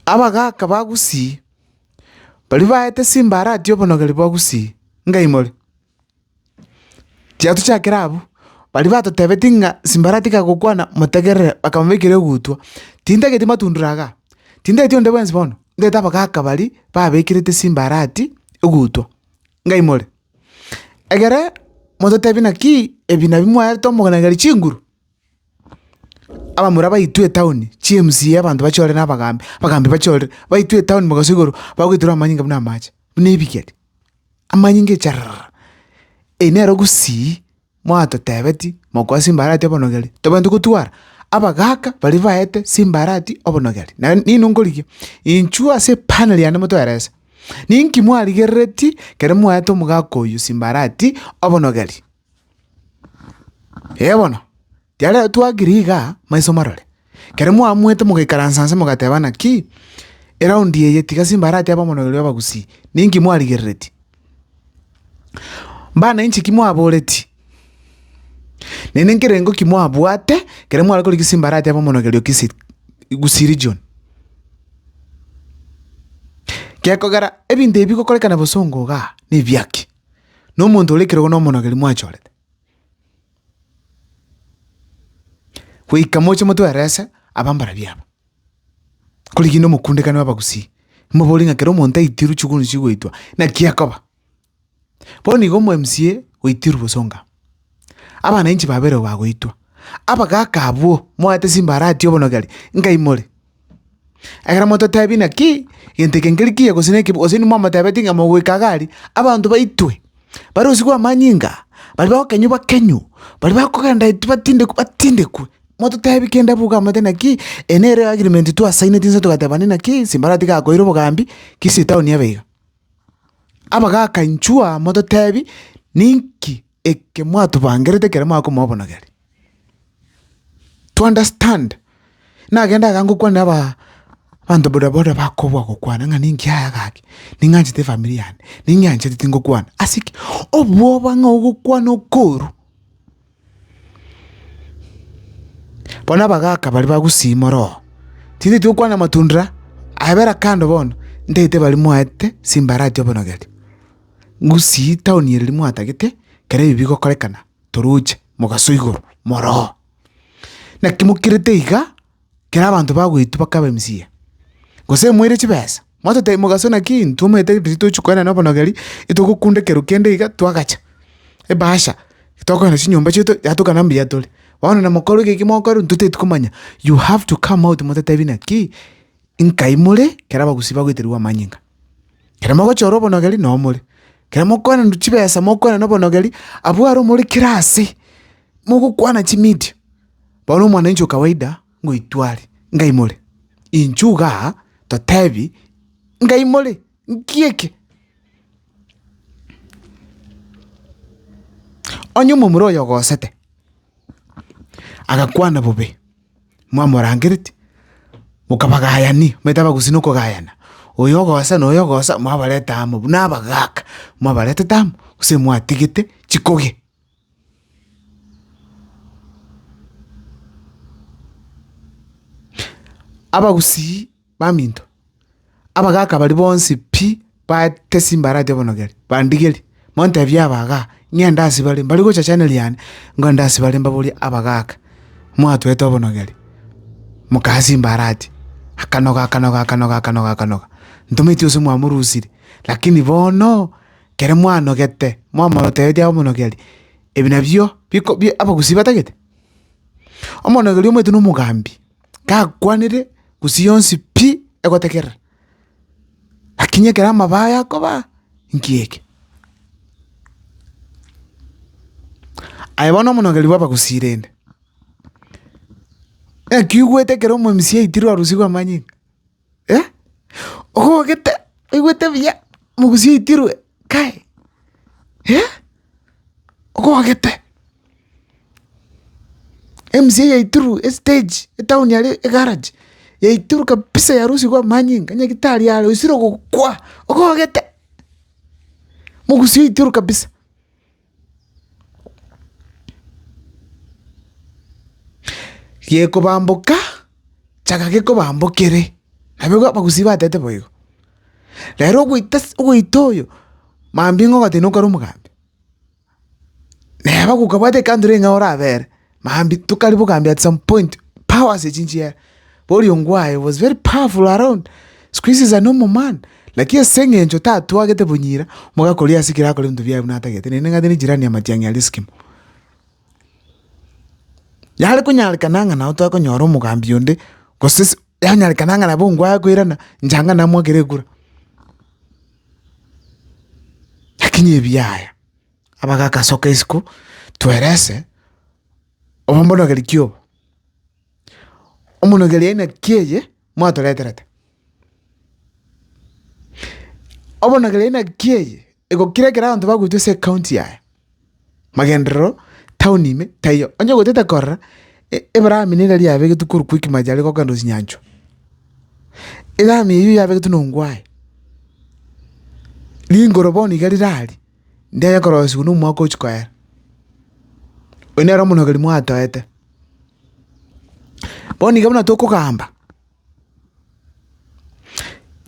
Abagaaka ba Gusii, baria baete Simbarati obonogeri bwa Gusii, ngaimore. Tiatuchakire abwo, baria batotebetie ng'a Simbarati kagokwana motegerere bakamobaikera egutwa. Tintageti matundure iga, tintageti onde bwensi bono, ntagete abagaaka baria babekerete Simbarati egutwa, ngaimore. Egere mototebie naki ebi nabi mwaerete omonageri chinguru? Abamura baitwe etaoni, chi'MCA abanto bachorire na abagambi, abagambi bachorire, baitwe etaoni mogaso igoro, bagoitorwa amanyinga buna amache, buna ebigeri, amanyinga echararara, eyi nero gusii, mwatotebeti, mokwasi mbarati obonogeri, tobwenerete gotwara, abagaka baria baete simbarati obonogeri, naye nini nkorigia? Inchuo ase epaneli yane motoerese, ninki mwarigerereti kero mwaete omogaka oyo simbarati obonogeri. Ee bono, riaria twagire iga maiso marore, ekero mwaamwete mogaikaransa inse mogatebana ki, eraundi eye tiga simba aratebe omonene oria obagusii, ninki mwarigereretie? Mbana inche ki mwaboretie? Naende nkerengo ki mwabwate ekero mware korigia simba aratebe omonogeri o Kisii Gusii region? Gekogera ebinto ebi bigokorekana bosongo igaa, nebiaki? Nomonto ore ekerogo nomonogeri mwachorete. Goika moche motwerese abambarabia aba. Korigi na omokundekano wa abagusii, mobori ng'a kero omonto aitirwe chigurunsi chigoitwa, naki akoba. Bono igo omo MCA oitirwe bosongo aa. Abana inche babeire bagoitwa, abagaaka abwo moete chimbarati obonogeri, nkaimore. Ekero mototebi naki, gento eke nkeri kiya gose nekibe, gose inwe mwamotebeti ng'a mogoika iga aria, abanto baitwe, barosigwe amanyinga, baria bagokenywa bakenywe, baria bakogenda eti batindekwe batindekwe. Mototebi kende abwo iga moete naki, eye nere agreement twasaineti inse togateba naki, chimbarati gakoire obogambi, kisi etaoni ebe iga. Abagaaka inchuo aa mototebi, ninki eke mwatubangerete ekero mwakomobonogeri? To understand. Nagende iga ngokwanera aba abanto boda boda bakobua gokwana ng'a ninki yaya gaki, ning'anchete efamiri yane, ning'eanchete tingokwana. Ase ki? Obwoba ng'a ogokwana okoru. Bono abagaaka baria bagusima oroo, titeti okwana amatunda abera kando bono, ntagete baria mwaete simbarati obonogeria, ngusii town eye riria mwatagete ekero ebi bigokorekana toroche mogaso igoro moroo. Naki mokirete igaa. Ekero abanto bagoitwa bakaba emisiya, gose moire chibesa, mwatotebia mogaso naki intwe omanyete riria tochi koenda na obonogeri, itogokunda ekero kende iga twagacha, ebahasha, tokogenda na chinyomba chieto yatokana na mbuya tore. Bono na mokorwa eke eki mokorwa totaeti komanya, you have to come out mototebi naki nkai more ekero abagusii bagoeterigwa amanyinga. Ekero mogochora obonogeri noo more, ekero mokoenda na chibesa mokoenda na obonogeri, abwo are omore kera ase, mogokwana chimidia. Bono omwananchi o kawaida ngoitware, ngaimore. Inchuo iga totebi, ngaimore, ngieke. Onye omomura oyo ogosete, agakwana bobe, mwamorangereti, mokabagayani, omanyete abagusii na okogayana, oyo ogosa na oyo ogosa, mwabareta amo buna abagaka, mwabaretete amo, gose mwatigete chikogi. Abagusii baminto, abagaka baria bonsi pi baete chimbarati obonogeri, bandigeri, montebie aba iga, ng'ende ase bare, mbare gocha chaneli yane, ngende ase bare mbaborie abagaka, mwatoete obonogeri, mokae ase chimbarati, akanoga, akanoga, akanoga, akanoga, akanoga, ntometi ase mwamorusire, lakini bono, Ekero mwanogete mwamorotereria omonogeri, ebi nabio biko abagusii batagete? Omonogeri omanyete na omogambi, gakwanire gusii yonsi pi egotegerera, lakini ekero amabaa aye akobaa, inki eke? Aye bono omonogeri bw'abagusii rende, naki oigwete ekero omomisia aitirwe orosio rw'amanyinga? Eh, ogogete oigwete buya mogusi oitirwe kae, eh, ogogete. Emchie yaitirwe estage etown aria egarage yaitirwe kabisa yarusigwe amanyinga onye gitari are osire gokwa ogogete, mogusi oitirwe kabisa. Gekobamboka, chaka gekobambokere, nabwo abagusi batete boigo. Rero ogoita ase ogoita oyo, mambia ng'a ogoteba nokare omogambi, neba gokabwate ekandoro eyio ng'a orabere. Mambia tokare bogambi at some point powers echi nchiera oriongo aye was very powerful around siku hizi is a normal man lakini ase eng'encho tatwagete bonyira omogaka oria asikire akore ebinto biaye buna atagete naende ng'ate ne jirani ya matiang'i aria eskimo. Yare konyarekana ng'a nabo tokonyora omogambi onde gose se yanyarekana ng'a nabo ngwaya koirana nchanga namoakera ekura lakini ebiaya abagakasoka isiko twerese omomonogeri ki obo? Omonogeri aina ki eye mwatoreterete? Omonogeri aina ki eye egokira ekero abanto bagoitwa ase ekaunti yaye, magenderero, town ime taiyo, onye ogotete korora e- ebrami nere riabegetwe korwa Quick Mart aria gokenda Osinyanchwa, erami eywo yabegetwe na ongwae, ringoro bono iga riraria. Nde aye korosigwa nomwaka ochia koera. Oyio nere omonogeri mwatoete. Bono iga buna tokogamba,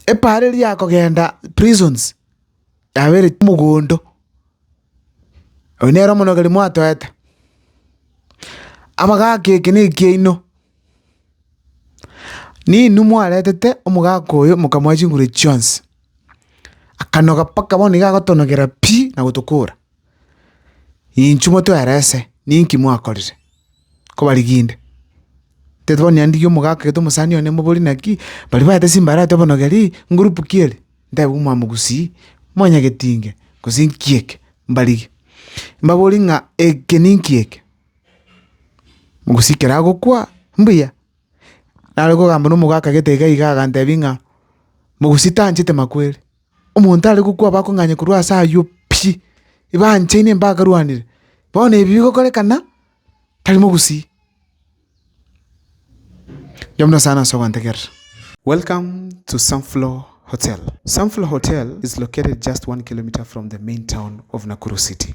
epaara eria ya kogenda prisons, yabereti omogondo. Oyio nere omonogeri mwatoete. Amagaki eke nekiaino. Ninwe mwaretete omogaka oyo mokamoa chinguru chionsi, akanoga mpaka bono nigo agotonogera pi na gotokora. Inchuo motwere ase, ninki mwakorire? Kobarigia inde. Tete bono nyandigie omogaka gete omosani one mobori naki, baria baete chimbarati obonogeri, ngurupu ki eri? Ntebe buna mwamogusii, mwanyagetinge, gose nki eke? Mbarigie. Mbabori ng'a eke ninki eke? Mogusi ekero agokwa, mbuya. Nare kogamba nomogo akagete iga iga agantebi ng'a mogusi tanchete makwere, omonto are gokwa bakong'anya korwa ase aywo pi, ebanchaine mbakarwanire, bono ebi bigokorekana tari mogusi. Erio buna nyasae nase ogontegerera. Welcome to Sunflower Hotel. Sunflower Hotel is located just one kilometer from the main town of Nakuru City.